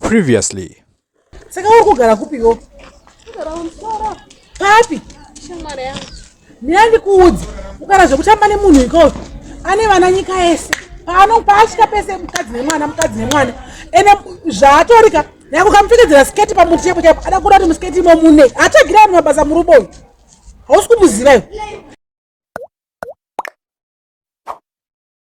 previously saka uri kugara kupiwo papi ndinandikuudza kugara zvekutamba nemunhu ikoo ane vana nyika yese paano paasvika pese mukadzi nemwana mukadzi nemwana ende zvaatorika nyakukamupfekedzera sketi pamuti chapo chapo ada kuda kuti musketi imo mune atagira vanhu mabasa murubo uyu hausi kumuziva iwe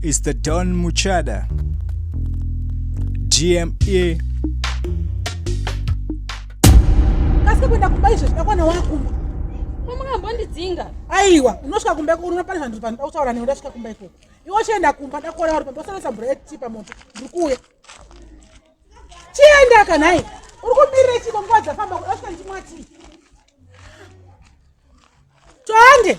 It's the Don Muchada. GME. Kasi kwenda kumba izvo zvakwana wakumba. Mamungambondidzinga. Aiwa, unosvika kumba ikoko unoona pane zvanhu panoda kutaura newe ndasvika kumba ikoko. Iwe uchienda kumba ndakuona uri pamba usana sambura yeti pamoto. Ndiri kuuya. Chienda kanai. Uri kumirira chiko nguva dzafamba kuda ndimwati. Twande.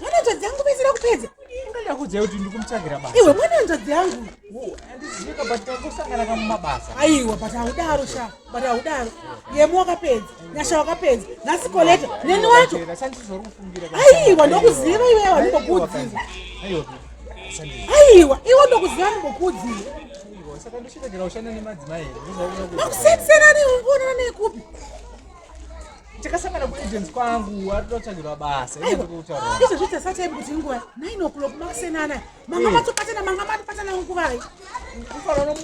mwana hanzvadzi yangu vaisira kupedza ndakuziva kuti ndikumutsvagira basa iwe mwana hanzvadzi yangu andizivika but tangosangana kamumabasa aiwa but haudaro sha but haudaro yemu wakapedza nyasha wakapedza nhasi koleta neni wacho aiwa ndokuziva iwe wanimbokuudziva aiwa iwe ndokuziva nimbokuudziva makusiyana siyana nekuonana nekupi tikasangana kuagents kwangu ari kutotsvagirwa basa izvozvi tasati aibu kuti nguva nine o'clock makusenana manga eh. matopatana manga matopatana nguvai kufanana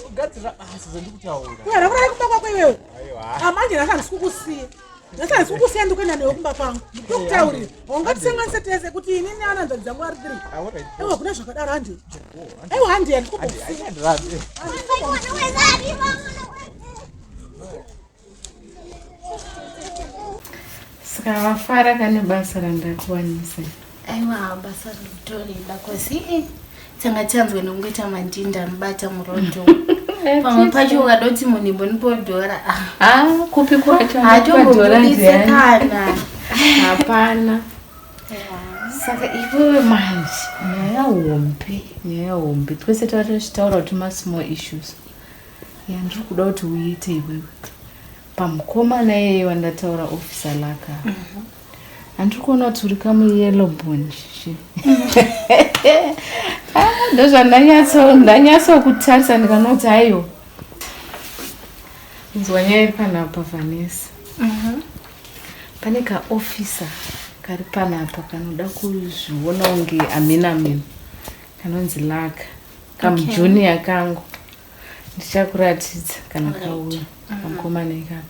kugadzira basa zandiri kutaura uya rakurara kumba kwako iwewe amanje ah, ndasandisi kukusiya ndasandisi kukusiya ndikuenda newe kumba kwangu ndokutaurira ungatisanganise tese kuti ini neana nzvadzi dzangu ari three ewa ah, kuna zvakadaro handi ewa handi yandikukusiya Saka vafara kane basa randakuwanisa. Aiwa basa rinotorida kosi eh, tanga chanzwa nokungoita madhinda anobata murodo. Pamwe pacho ukadoti munhu imbonipodhora. Ah, ah kupi kwacho? Hachongobudise kana. Hapana. Saka iwewe manje nyaya hombe, nyaya hombe. Twese tava tichitaura kuti ma small issues. yandiri kuda kuti uite iwewe pamukomana iyeye wandataura ofisa laka mhm. handiri kuona kuti uri kamuyellow bon shishi ah, ndozvandanyatsokutarisa ndikanoti aiwa inzwa nyaya iri panapa vanesa mhm. pane kaofisa kari panapa kanoda kuzviona unge amena amena kanonzi laka kamujuniya okay. kangu ndichakuratidza kana kauya mm-hmm. kamukomana ikako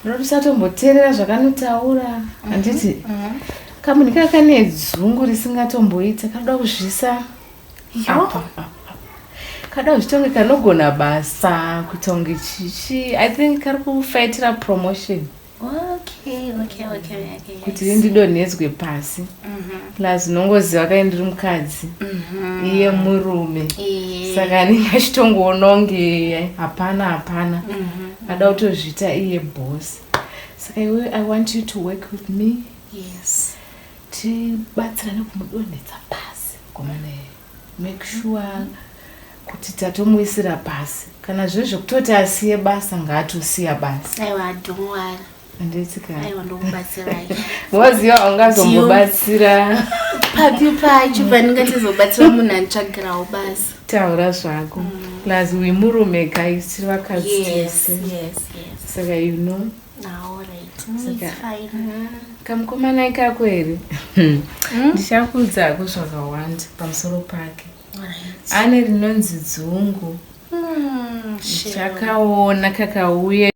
rotisatomboteerera zvakanotaura mm-hmm. handiti mm-hmm. kamunhu kaa kane dzungu risingatomboita kanoda kuzvisa apa kanoda kuzvitonge kanogona basa kutonge chichi i think kari kufaitira promotion okay, okay, okay, okay, yes. kuti ndidonhedzwe pasi Mhm, plus unongoziva kai ndiri mukadzi mhm. iye murume Iye. saka anenge achitongoona kunge hapana hapana Mhm, ada kutozviita iye boss saka iwe i want you to work with me yes. tibatsirane kumudonhedza pasi komana iye Make sure kuti tatomuisira pasi kana zve zvekutoti asiye basa ngaatosiya basa aiwa don't worry handitsika aiwa ndokubatsirai waziva aungazombobatsira papi pacho pandingatizobatsira munhu anitsvagirawo basa taura zvako mm. plus wemurume guys tiri vakadzi tese saka you know kamukomana ikako here hmm. ndichakuudza hako zvakawanda pamusoro pake ane rinonzi dzungu hmm, chakaona kakauye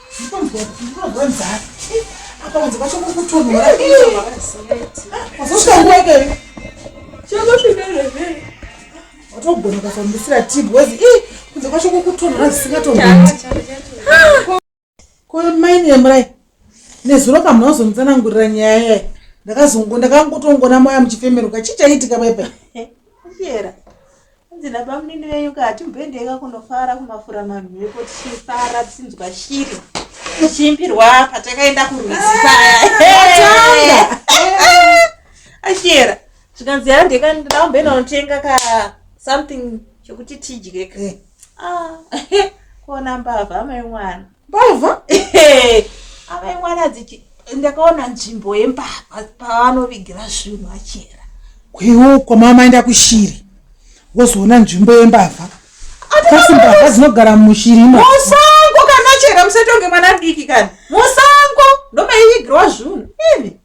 watogona ukafambisira tib wezi i kunze kwacho kukutonhora zvisingatongoiti ko maini yemurai nezuro kamuna wazonitsanangurira nyaya yayi ndakazongo ndakangotongona maya muchifemeruka chii chaiitika pepe Hanzi nabamunini venyu ka hatimboendeka kunofara kumafura mamhepo tichifara tichinzwa shiri tichiimbirwa patakaenda kurwizi paya ashiyera zvikanzi yaa ndeka ndida kumboenda kunotenga ka something chokuti tidye ka Eh. Ah, kuona mbavha amai mwana mbavha avai mwana dzichi ndakaona nzvimbo yembavha pavanovigira zvinhu vachera kwewo kwamama enda kushiri wozoona nzvimbo yembavha kasi mbavha dzinogara mushiri musango kana chera musatonge mwana diki kana musango ndomaivigirowa zvinhu ivi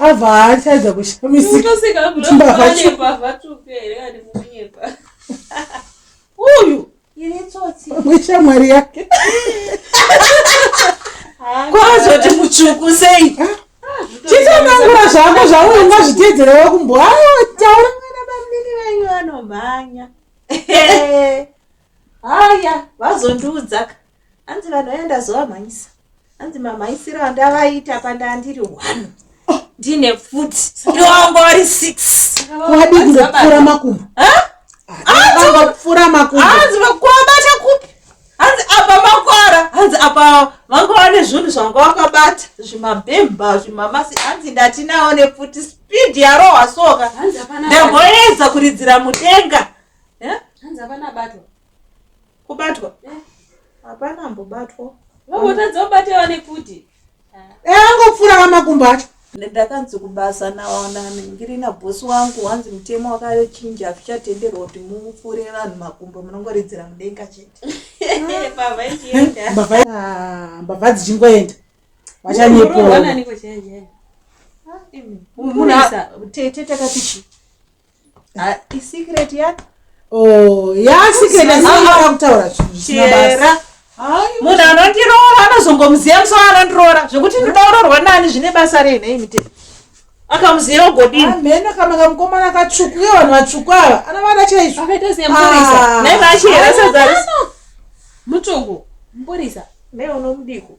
Ava haachadza kushamisika. Uyu ine tsotsi. Pamwe shamwari yake. Kwazoti mutsvuku sei? Chitonangura zvako zvauyo ngazviteedzere wakumbo. Hayo taura. Vana bamnini venyu vanomhanya. haya vazondiudzaka hanzi vanhu vaya ndazovamhanyisa hanzi mamhanyisiro andavaita pandandiri one ndine futi ndongo vari six wadii kupfura makumbo vangopfura makumbo hanzi vakuabata kupi hanzi apa makwara hanzi apa vanga vane zvinhu zvanga vakabata zvimabhemba zvimamasi hanzi ndatinawo nefuti speed yarohwa soka ndamboedza kuridzira mudenga Eh? Hanzi hapana abatwa. Kubatwa? Eh. Hapana eh? ambobatwa. Vavotadza kubata vane kuti. Eh, angopfura vamakumbo acho. Ndakanzi kubasa naonani ndiri na boss wangu wanzi mutemo wakachinja azvichatenderwa kuti mupfure vanhu makumbo munongoridzira mudenga chete. Baba ichienda. Eh, baba ah, baba dzichingoenda. Vachanyepo. Munhu tete takati chi. Ah, isecret ya Oh, ya secret asi ava kutaura zvinhu zvisina basa. chera munhu anondiroora anozongomuziva musi waanondiroora zvekuti ndodaurorwa nani zvine basa rei nhei mutemo akamuziva ugodini Hameno kama kamukomana katsvuku uye vanhu vatsvuku ava anovada chaizvo. akaita semurisa Ah. naiva achihera sadza rese mutongo mburisa naiva unomudiko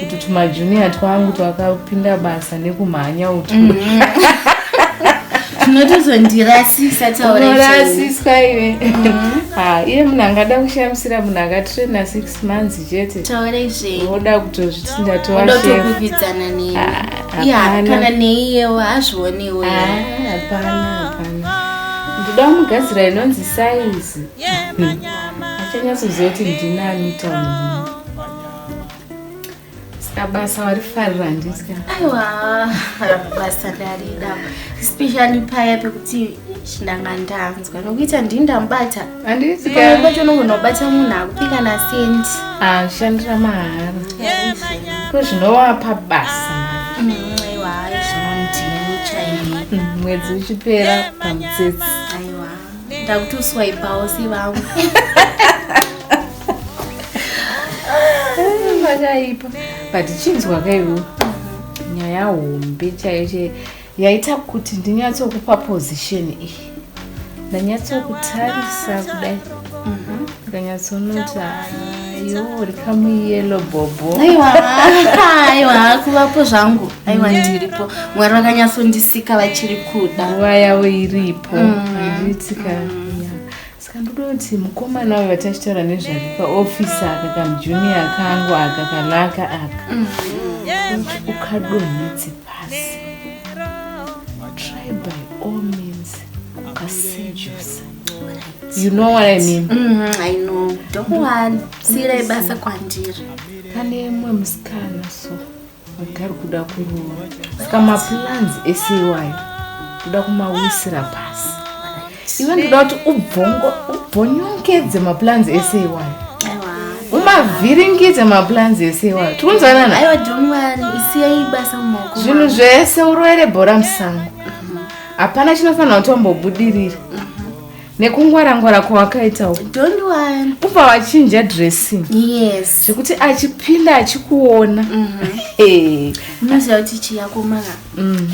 kuti tumajunior twangu twakapinda basa nekumhanya utu mm. tinotozondirasisa taurasiswa ive mm. ah, iye munhu angada kushamisira munhu akatraina six months chete taureizveoda kutozviti ndatoaodotokuvidzana nei ah, ya kana neiyewo azvionewo ah, hapana hapana ndoda kumugadzira inonzi saizi achanyatsoziva kuti ndinani taunhu Ska basa warifarira handiska. Aiwa, basa ndarida. Especially paya pekuti ndanga ndanzwa nokuita ndini ndamubata. Handisi ka. Kwacho unongonobata munhu akupika na cent. Ah, shandira mahara. Ko zvinowapa basa. Mm, aiwa, zvinondini chaiye. Mm, mwedzi uchipera pamutsetse. ndakutuswaipawo sevamwe makaipa but chinzwa kaivo nyaya hombe chaiyo chaiyo yaita kuti ndinyatsokupa position iyi ndanyatsokutarisa kudai akanyatsonota yo uri kamuyelo bhobho aiwa aiwa hakuvapo zvangu aiwa ndiripo mwari vakanyatsondisika vachiri kuda nguva yavo iripo andiitika saka ndoda kuti mukomana uyo vatachitaura nezvake kaofisi aka kamujuniya kangu aka kalaka aka kuti ukadonhedze pasi try by all means ukasejusa you know what i mean mm, i know don't worry siyirai basa kwandiri pane mwe musikana so agari kuda kuroora saka maplans ese iwayo ndoda kumawisira pasi iwe ndoda kuti ubvonyongedze maplans ese iwayo umavhiringidze maplans ese iwayo tikunzwanana zvinhu zvese uroere bhora musango hapana chinofanira kuti wambobudirira nekungwarangwara kwawakaita uku don't worry ubva wachinja dressing yes zvekuti achipinda achikuona Hey. unoziva kuti chiyakomaka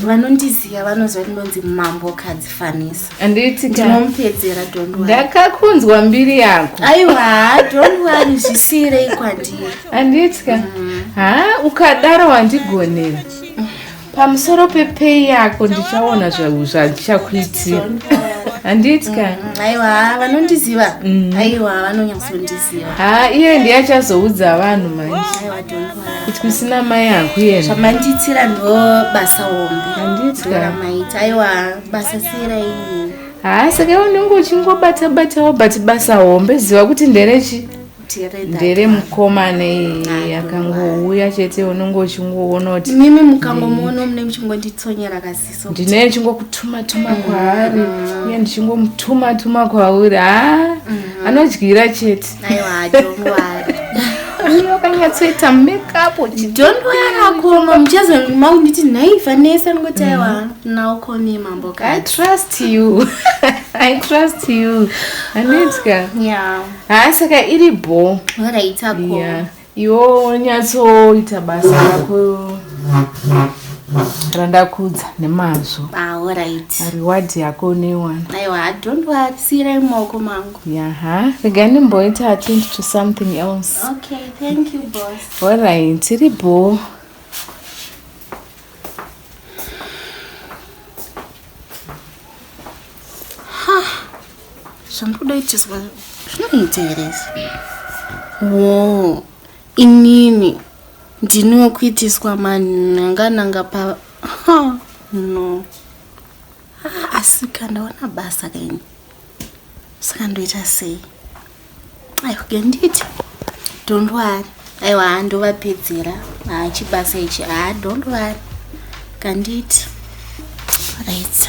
vanondiziva vanoziva kuti ndonzi mambo kadzi fanisa andiitika ndinomupedzera don't worry ndakakunzwa mbiri yako aiwa don't worry zvisiyirei kwandiri andiitika ha ukadaro wandigonera pamusoro pepei yako ndichaona zvandichakuitira handiti ka mm, aiwa vanondiziva mm. aiwa vanonyatsondiziva ha iye ndiye achazoudza vanhu manje kuti kusina mai hangu yena zvamandiitira ndo basa hombe handiti ka maita aiwa basa sira iyi ha saka unenge uchingobata batawo but basa hombe ziva kuti nderechi ndere mukomana iyi akangouya chete unenge uchingoona kuti mimi mukangomuona mune muchingonditsonyera kasiso ndine ndichingokutumatuma mm. kwaari uye ndichingomutumatuma kwauri ha mm. anodyira chete uyo kanyatsoita makeup chidondoyarakoma muchazomaumbiti nhai vanesa ndingoti aiwa mm. naokoni mambo i trust you i trust you anetya yeah haa saka iri bho raitako iwo nyatsoita basa rako randakudza nemazvo reward yako uneiwanasiirai mumaoko mangu yaha rega ndimboita attend to something else allright iri bho zvandikuda itiswa zvinomuteeresa wo inini ndini wekuitiswa manhangananga pa no ah, asi kandaona basa kaini saka ndoita sei aiwa genditi don't worry aiwa handovapedzera haa chibasa ichi haa don't worry kanditi right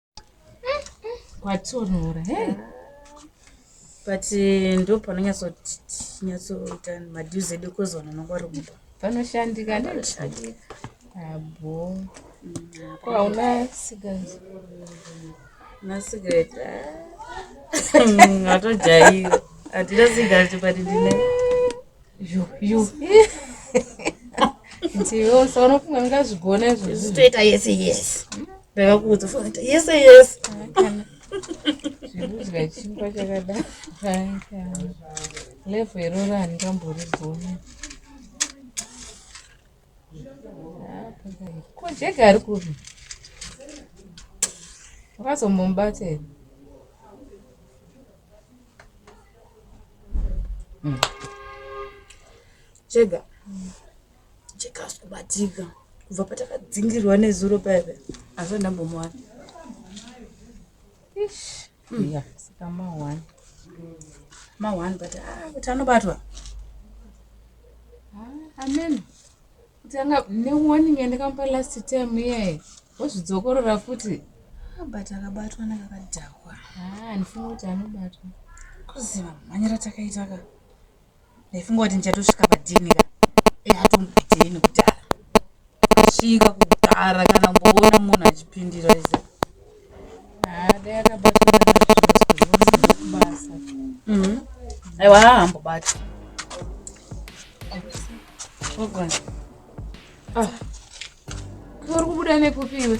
kwatonora hey. but eh, ndo panonyatsoita madues edu kozi vanhu vanonga vari kumba panoshandika ndokushandika abo ko hauna sigazi na sigaret atojaira hatina sigaret but ndine zvitoita yese yese ndakakuudza fanaita yese yese zvekudya chingwa chakadai level iroro handingamborigoni Ko Jake ari kupi? Wakazombomubata here? Mm. Jega. Jega asi kubatika. Kubva patakadzingirwa nezuro paipa. Asi ndambomuwana. Ish. Mm. Yeah. Saka ma one. Ma one but ah kuti anobatwa. Ah, amen. Kuti anga ne warning yandakamupa last time iye. Wozvidzokorora futi. Ah, but akabatwa nakakadhakwa. Ah, ndifunga kuti anobatwa. Kuziva mhanyira takaita ka. Ndaifunga kuti ndichatosvika padhini ka e hatombidei nekudhara svika kudhara kana mboona munhu achipindira ize mhm. aiwa haambobati ah. uri kubuda nekupiwe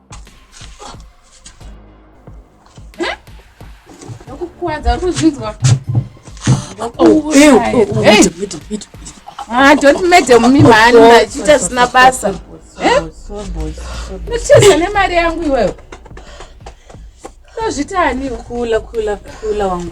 Ah, don't madam mi mhani machiita zvisina basa ucheza nemari yangu iwewe tozvitani kula kula kula wangu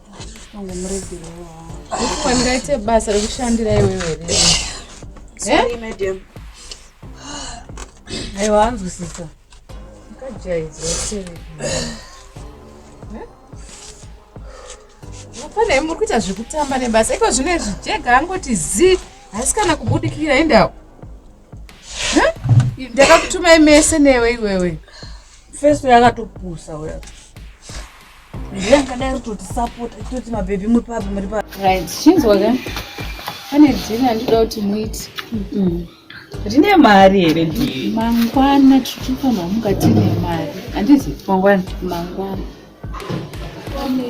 Wangaite basa rekushandira iwewe aiwa anzwisisa akajaidzwa sei pane muri kuita zvekutamba nebasa iko zvino izvi jega angoti zi haisi kana kubudikira endawo ndakakutumai mese newe iwewe feso yakatopusa uya ndiye angadai ritotisapota toti mabhebhi muri papi muri papi right chinzwa ka pane dhiri andida kuti muiti rine mari here dhiri mangwana tirifanira muka tine mari handizi mangwana mangwana pane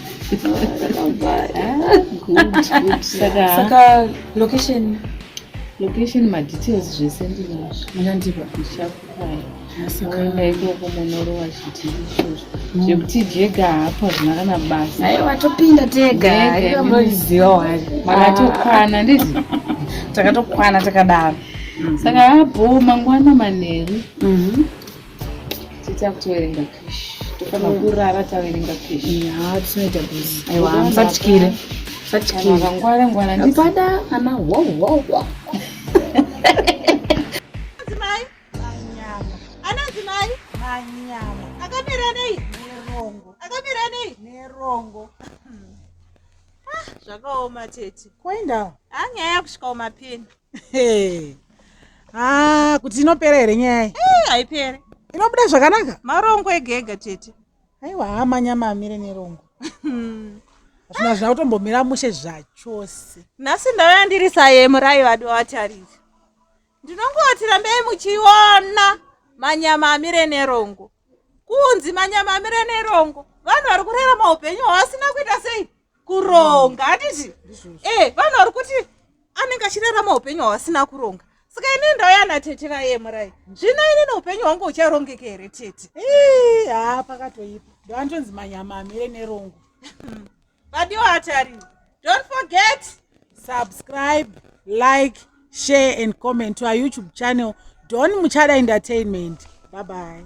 saka location location madetails zvese ndinazvo munandipa ndichakukwai sakaenda ikoko monorowa chiti izvozvo mm. zvekuti jega hapa zvina kana basa aiwa topinda tega aikamboziva wari makatokwana ah. ndizi takatokwana takadaro mm-hmm. saka abho mangwana manheru mm-hmm. tita kutoverenga kish tofanira mm. kurara taverenga kish haa tisinoita bus aiwa hamusatyire musatyire vangwara ngwara ndipada ana wawawa anazimai manyama anazimai manyama akamira nei nerongo akamira nei nerongo ah, zvakaoma tete kwaindawo anyaya ah, kusvikawo mapeni Ah, kuti inopera here nyaya iyi Eh, haipere inobuda zvakanaka marongo ega ega tete aiwa hama nyama amire nerongo hazvina zvina kutombomira mushe zvachose nhasi ndauya ndiri saye murayi vadi wavatariri ndinongoti rambei muchiona manyama amire nerongo kunzi manyama amire nerongo vanhu vari kurarama upenyu hwavasina kuita sei kuronga handiti e vanhu vari kuti anenge achirarama upenyu hwavasina kuronga saka ini ndauya natete vaye murai zvino ini neupenyu hwangu ucharongeka here tete haa pakatoipa ndoantonzi manyama amire nerongo vadiwo atari don't forget subscribe like share and comment to our youtube channel don muchada entertainment bye bye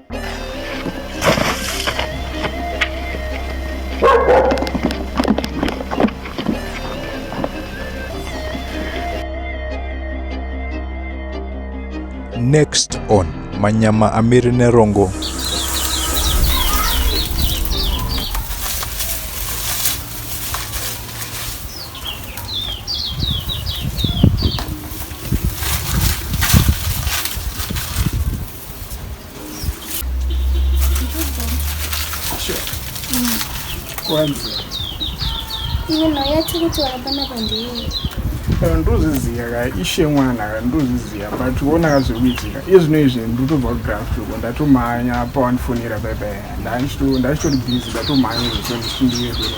Next on Manyama Amiri Nerongo. kwanzi Iwe nhau yacho kuti wakapana pandeiyi. Eh, ndozviziva ka ishe mwana ka ndozviziva but wona ka zviri kuitika iye zvino izvi ndotobva kugraf uko ndatomhanya apa wandifonera baibai ndachito- ndachitori busy ndatomhanya izvo ndichindiyekuno